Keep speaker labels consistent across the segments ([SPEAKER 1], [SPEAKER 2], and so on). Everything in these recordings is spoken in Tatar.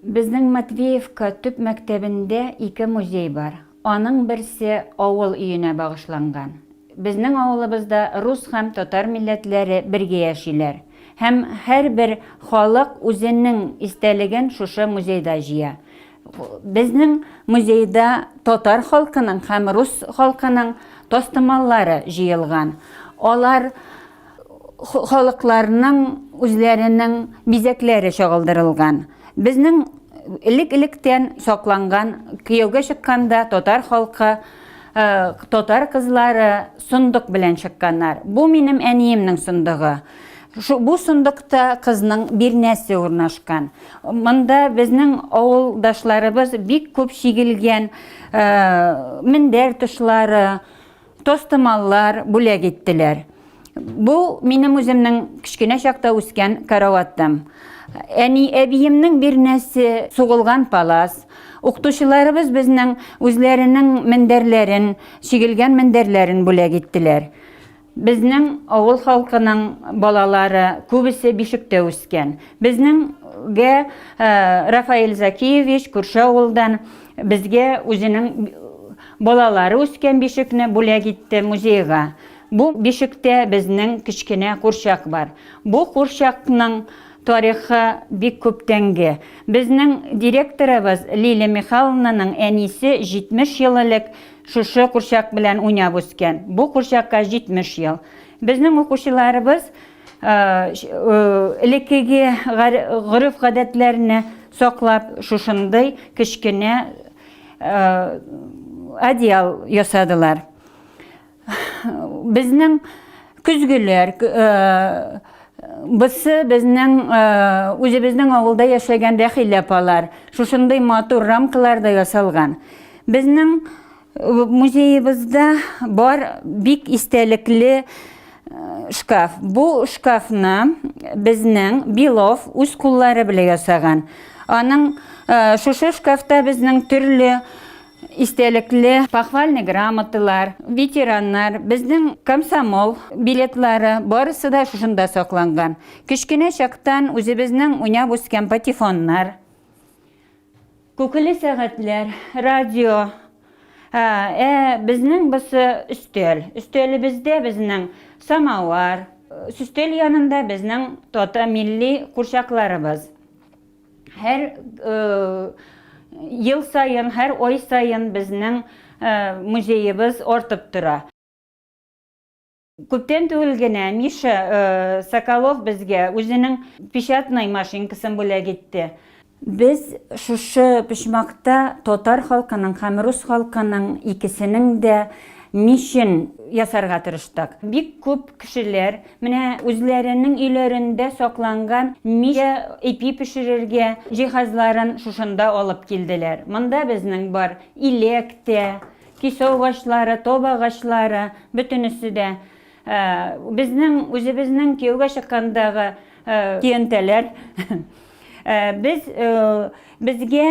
[SPEAKER 1] Безнең Матвеевка төп мәктәбендә ике музей бар. Аның берсе авыл өенә багышланган. Безнең авылыбызда рус һәм татар милләтләре бергә яшиләр. Һәм һәрбер халык үзенең истәлеген шушы музейда җыя. Безнең музейда татар халкының һәм рус халкының тастымаллары җыелган. Алар халыкларның үзләренең бизәкләре чагылдырылган. Безнең элек-электән сакланган кияүгә чыкканда татар халкы татар кызлары сондык белән чыкканнар. Бу минем әниемнең сондыгы. Бу сондыкта кызның бирнәсе урнашкан. Монда безнең авылдашларыбыз бик күп чигелгән мендәр тышлары, Тастымаллар бүләк иттеләр. Бу минем үземнең кечкенә чакта үскән караватым. Әни әбиемнең бирнәсе, сугылган палас. Укытучыларыбыз безнең үзләренең мендәрләрен, чигелгән мендәрләрен бүләк иттеләр. Безнең авыл халкының балалары күбесе бишектә үскән. Безнең гә э, Рафаэль Закиевич күрше авылдан безгә үзенең Балалары үскән бишекне бүләк итте музейга. Бу бишектә безнең кечкенә курчак бар. Бу курчакның тарихы бик күптәнге. Безнең директорыбыз Лилия Михайловнаның әнисе 70 ел элек шушы курчак белән уйнап үскән. Бу курчакка 70 ел. Безнең укучыларыбыз элеккеге гореф-гадәтләрне саклап, шушындый кечкенә Одеял ясадылар. Безнең көзгеләр, Бысы безнең үзебезнең авылда яшәгән Рәхилә апалар. Шушындый матур рамкаларда ясалган. Безнең музеебызда бар бик истәлекле Шкаф. Бу шкафны безнең Белов үз куллары белән ясаган. Аның шушы шкафта безнең төрле истәлекле похвальный грамоталар, ветераннар, безнең комсомол билетлары барысы да шушында сакланган. Кечкенә чактан үзебезнең уйнап үскән патефоннар, Күкеле сәгатьләр, радио. Ә безнең бусы өстәл. Өстәлебездә безнең самовар. Өстәл янында безнең тата милли курчакларыбыз. Һәр ел саен, һәр ай саен безнең музеебыз артып тора. Күптән түгел генә Миша э, Соколов безгә үзенең печатный машинкасын бүләк итте. Без шушы почмакта татар халкының һәм рус халкының икесенең дә мичен ясарга тырыштык. Бик күп кешеләр менә үзләренең өйләрендә сакланган мич ипи пешерергә җиһазларын шушында алып килделәр. Монда безнең бар иләк тә, Кисәү агачлары, тоба агачлары, бөтенесе дә. Безнең, үзебезнең кияүгә чыккандагы көянтәләр. Без, безгә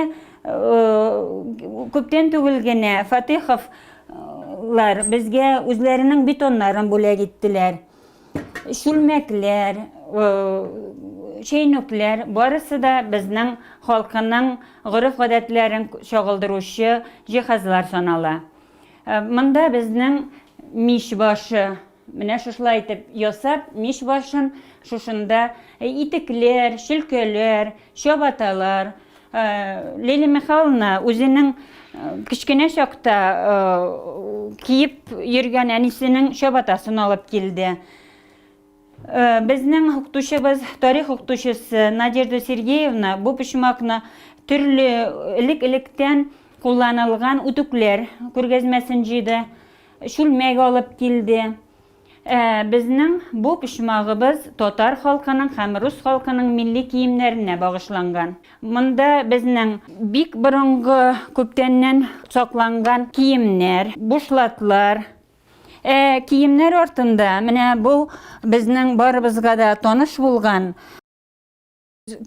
[SPEAKER 1] күптән түгел генә Фатыйховлар безгә үзләренең бетоннарын бүләк иттеләр. Чүлмәкләр, чәйнүкләр, барысы да безнең халкының гореф-гадәтләрен чагылдыручы җиһазлар санала. Монда безнең мич башы, менә шушылай итеп ясап, мич башын шушында итекләр, чөлкәләр, чабаталар, Лилия Михайловна үзенең кечкенә чакта киеп йөргән әнисенең чабатасын алып килде. Безнең укытучыбыз, тарих укытучысы Надежда Сергеевна бу почмакны төрле элек-электән кулланылган үтүкләр күргәзмәсен җыйды, чүлмәк алып килде. Ә безнең бу почмагыбыз татар халкының һәм рус халкының милли киемнәренә багышланган. Монда безнең бик борынгы, күптәннән сакланган киемнәр, бушлатлар. Ә киемнәр артында менә бу безнең барыбызга да таныш булган,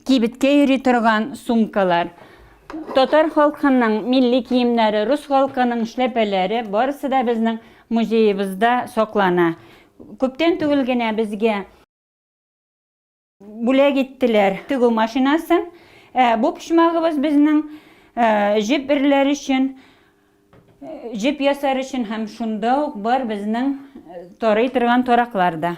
[SPEAKER 1] Кибеткә йөри торган сумкалар. Татар халкының милли киемнәре, рус халкының эшләпәләре барысы да безнең музеебызда саклана. Күптән түгел генә безгә бүләк иттеләр тегү машинасын. Ә бу почмагыбыз безнең җеп эрләр өчен, җеп ясар өчен һәм шунда ук бар безнең тарый торган тараклар да.